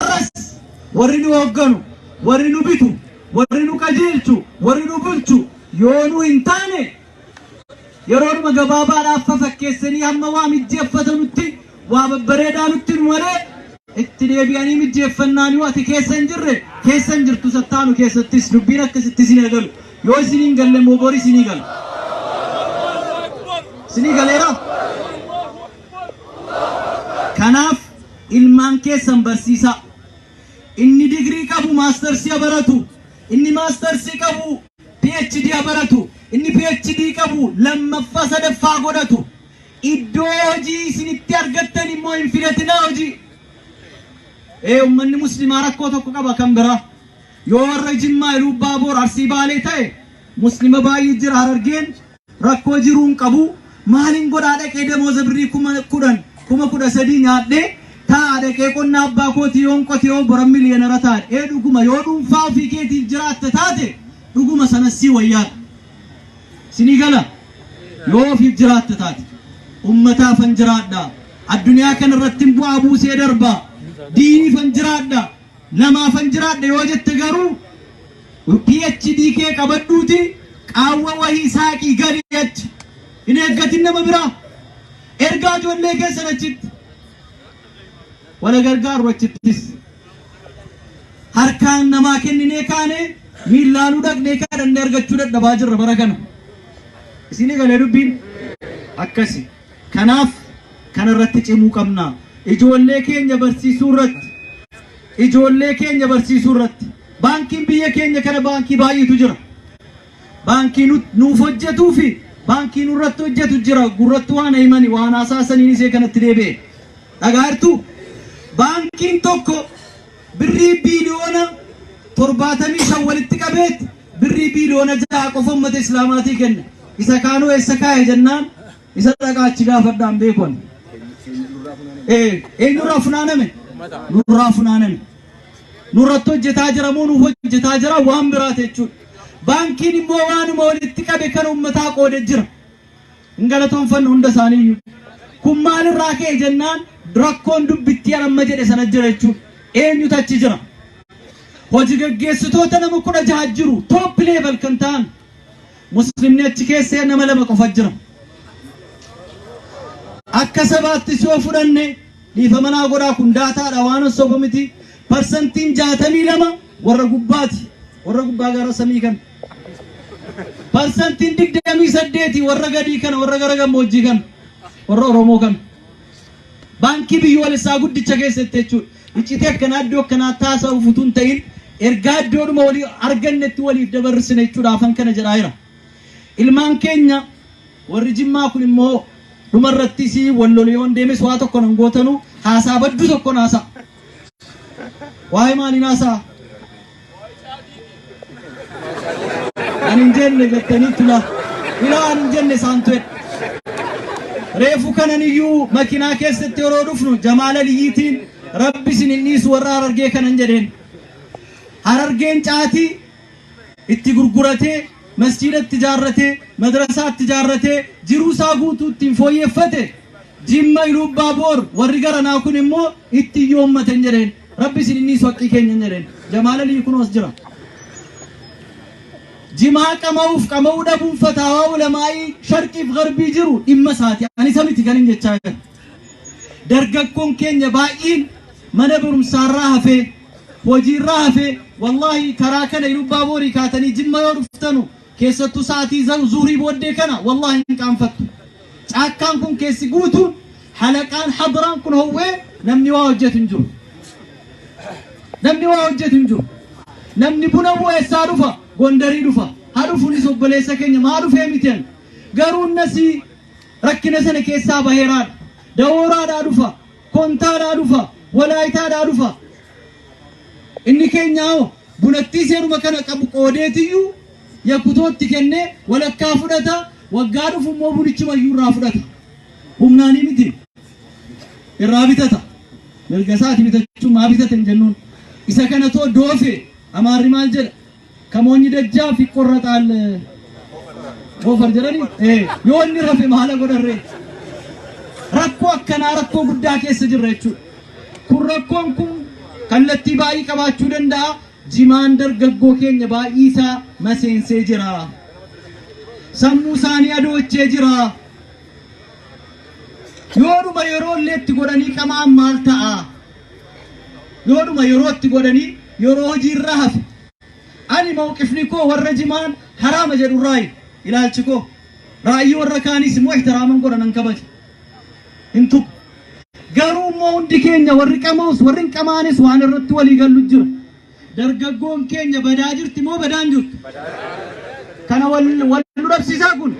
Har'as warri nu hoogganu, warri nu bitu, warri nu qajeelchu, warri nu bulchu yoo nu hin taane yeroodhuma gabaabaadhaaf fafakkeessanii hamma waa mijjeeffatanutti waa babbareedaa nutti nu malee itti deebi'anii mijjeeffannaan yoo ati keessa hin jirre keessa hin jirtu sattaanu keessattis dubbiin akkasitti isin eegalu yoo isin hin galle immoo bori isinii gala. Isinii galeera. Kanaaf Ilmaan keessan barsiisaa. Inni digrii qabu maastarsii ha baratu, inni maastarsii qabu. PhD ha baratu, inni PhD qabu lammaffaa sadaffaa ha godhatu. Iddoo hojii isin itti argattan immoo hin filatinaa hojii. Ee ummanni muslimaa rakkoo tokko qaba kan biraa. Yoo warra Jimmaa, Iluubbaaboor, Arsii Baalee ta'e muslima baay'ee jira Harargeen. Rakkoo jiruu hin qabu maalin godhaa dhaqee damooza birrii kuma kudhan kuma kudha sadii nyaadhee taa'a dhaqee qonna abbaa kootii yoon qotee hoo boran miliyoonara taadha ee dhuguma yoo dhuunfaa ofii keetiif jiraatta taate dhuguma sanas sii wayyaadha sinii gala yoo ofiif jiraatta taate ummataafan jiraadha addunyaa kanarrattin bu'aa buusee darba diiniifan jiraadha Lamaafan jiraadha yoo jette garuu PhD kee qabadhuutii qaawwa wahii saaqii gali achi. Hin eeggatin nama biraa. Ergaa ijoollee keessan achitti. Wala gargaaru achittis. Harkaan namaa kenninee kaane miillaanuu dhaqnee kadhannee argachuu dadhabaa jirra bara kana. Isinii galee dubbiin akkasi. Kanaaf kana irratti cimuu qabna. Ijoollee keenya barsiisuu irratti Ijoollee keenya barsiisuu irratti Baankiin biyya keenya kana baankii baay'eetu jira. Baankii nu, nuuf hojjetuu fi baankii nurratti hojjetu jira. Gurratti waan himani waan haasaa saniin isee kanatti deebi'e. Dhagaa jirtu? Baankiin tokko Birrii biiliyoona 75 walitti qabeet birrii biiliyoona 6 qofa ummata Islaamaatii kenne. Isa kaanuu eessa kaa'e jennaan isa dhaqaa achi gaafadhaan beekon. Ee, eenyurraa funaaname? Nurraa funaaname. Nurratti hojjetaa jira moo nuuf hojjetaa jira waan biraati jechuudha. Baankiin immoo waanuma walitti qabe kan ummataa qoode jira. Hin galatoomfannu hunda isaaniiyyu. Kun maal irraa ka'e jennaan rakkoon dubbittii an amma jedhe sana jira jechuudha. Eenyutu achi jira? Hoji gaggeessitoota nama 16 jiru top level kan ta'an. Muslimni achi keessa nama lama qofa jira. Akka sabaattis yoo fudhanne dhiifama naa godhaa kun daataadha waan soba miti. Parsantiin 62 warra gubbaati. Warra gubbaa gara samii kan. Parsantiin 28 warra gadii kana warra gara gammoojjii kana warra Oromoo kana baankii biyyoolessaa guddicha keessatti jechuudha. Iccitii akkanaa iddoo akkanaa taasisuuf utuu hin ta'in ergaa iddoodhuma walii argannetti waliif dabarsine jechuudha afan kana jedhaa jira. Ilmaan keenya warri jimmaa kun immoo dhumarratti si wal lole yoon deemes waa tokko nan gootanu haasaa baddu tokkon haasaa. Waa'ee maaliin haasaa? Ani hin jenne jettanii tula. Ilaa ani hin jenne isaan tu'e. Reefu kanan iyyuu makinaa keessatti yeroo dhufnu Jamaal Aliyyiitiin rabbi isin hin dhiisu warra harargee kanan jedheen. Harargeen caatii itti gurguratee masjiidatti ijaarratee madrasaatti ijaarratee jiruu isaa guutuu ittiin fooyyeffate Jimma Iluubbaaboor warri garanaa kun immoo itti hin yoommaten jedheen. Rabbi isin hin dhiisu haqqii keenya hin jedheen. Jamaal Aliyyi kunoo as jira. Jimaa qama'uuf qama'uu dhabuun fataawaa ulamaa'ii sharqiif garbii jiru dhimma isaati. Ani isa miti kan hin jechaa jiru. Dargaggoon keenya baay'een mana barumsaarraa hafee hojiirraa hafee wallaahi karaa kana Iluubbaaboor kaatanii Jimma yoo dhuftanu Keessattuu sa'atii zaw zuhrii booddee kana wallaahi hin qaanfattu. Caakkaan kun keessi guutuun halaqaan hadraan kun howwee namni waa hojjetu hin jiru. Namni waa hojjetu hin jiru. Namni buna bu'u eessaa dhufa? Gondarii dhufa. Haa dhufuunis obboleessa keenya maa dhufee miti ani. Garuu nasii rakkina sana keessaa baheeraadha. Dawooraadhaa dhufa. Kontaadhaa dhufa, Walaayitaadhaa dhufa. Inni keenya hoo bunattii seeruma kana qabu qoodeetiyyuu Yakutootti kennee walakkaa fudhata, waggaa dhufu immoo bunichumayyuu irraa fudhata. Humnaanii miti. Irraa bitata. Mirga isaati bitachuun maa bitate hin jennuun. Isa kana too doofe Amaarri maal jedha? Ka moonyi dajjaaf iqqorraxaal Goofar jedhani ee yoo inni rafe maala godharree rakkoo akkanaa rakkoo guddaa keessa jirra jechuudha. Kun rakkoon kun kallattii baay'ee qabaachuu danda'a. Jimaan dargaggoo keenya baay'ee isaa maseensee jira. Sammuu isaanii adoochee jira. Yoodhuma yeroo illee itti godhanii qamaan maal ta'a? Yoodhuma yerootti godhanii yeroo hojii irraa hafe. Ani mawqifni koo warra jimaan haraama jedhu irraayi. Ilaalchi koo raa'yii warra kaaniis immoo ihtiraaman godha nan kabaja. Hin tuqu. Garuu immoo hundi keenya warri qama'us warri hin qama'anis waan irratti walii gallu jira. Dargaggoon keenya badaa jirti moo badaan jirtu? Kana wal wal nu dhabsiisaa kun?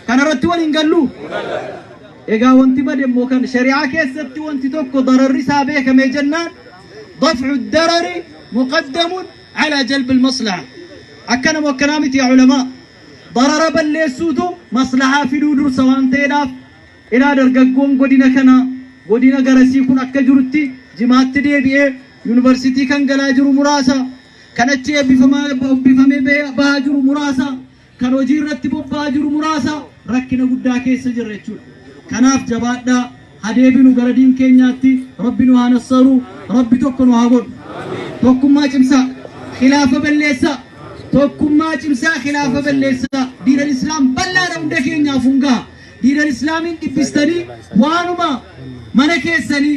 Kana irratti wal hin gallu? Egaa wanti bade immoo kan shari'aa keessatti wanti tokko dararri isaa beekamee jennaan dafcu darari muqaddamun ala jalbi maslaha. Akkana moo akkanaa miti yaa ulamaa? Darara balleessuutu maslahaa fiduu dursa waan ta'eedhaaf ilaa dargaggoon godina kanaa godina garasii kun akka jirutti jimaatti deebi'ee Yuunivarsiitii kan galaa jiru muraasa, kan achi eebbifamee bahaa jiru muraasa, kan hojii irratti bobba'aa jiru muraasa rakkina guddaa keessa jirra jechuudha. Kanaaf jabaadhaa ha deebinu gara diin keenyaatti rabbi nu haa nassaru rabbi tokko nu haa godhu. Tokkummaa cimsaa khilaafa balleessaa tokkummaa cimsaa khilaafa balleessaa diinal islaam bal'aadha hunda keenyaaf hungaa diinal islaamiin dhibbistanii waanuma mana keessanii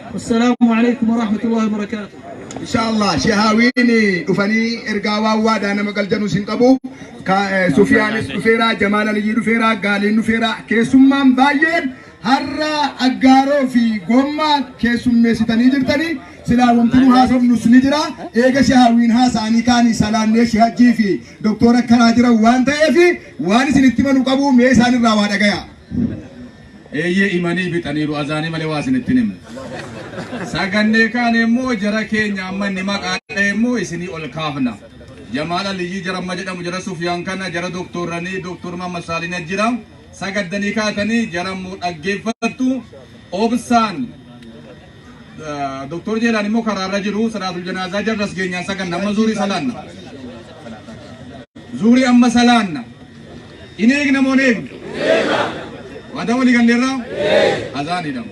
Assalaamu alaikum wa rahmatullahi wa barakaatu. Inshallah shehaawiin dhufanii ergaa waan waadaa nama galjanuu sin qabu. Ka- eh, Sufiyaanis dhufeera, Jamaal Aliyyii dhufeera, Gaaliin dhufeera. Keessummaan baay'een har'a aggaaroo fi gommaa keessummeessitanii jirtanii silaa wanti nu haasofnus ni jira. Eega shehaawiin haasa'anii kaanii salaannee shehajjii fi doktora karaa jiran waan ta'eef waan isin itti manu qabu mee isaanirraa waa dhagaya. Eeyyee imanii bixaniiru azaanii malee waa isinitti hin himnu. Sagannee kaane immoo jara keenya amma inni maqaa dha'e immoo isinii ol kaafna. Jamaal Aliyyii jara amma jedhamu jara Sufiyaan kana jara doktoorranii doktoor Mahammad Saaliin ajjira. Sagaddanii kaatanii jara immoo dhaggeeffattu. Obsaan Doktor Jeelaan immoo karaarra jiru salaatul janaazaa jarras geenyaan saganna amma zuurii salaanna. Zuurii amma salaanna. Hin eegna moo hin eegnu? Waadaa walii galleerraa? Azaan hidhamu.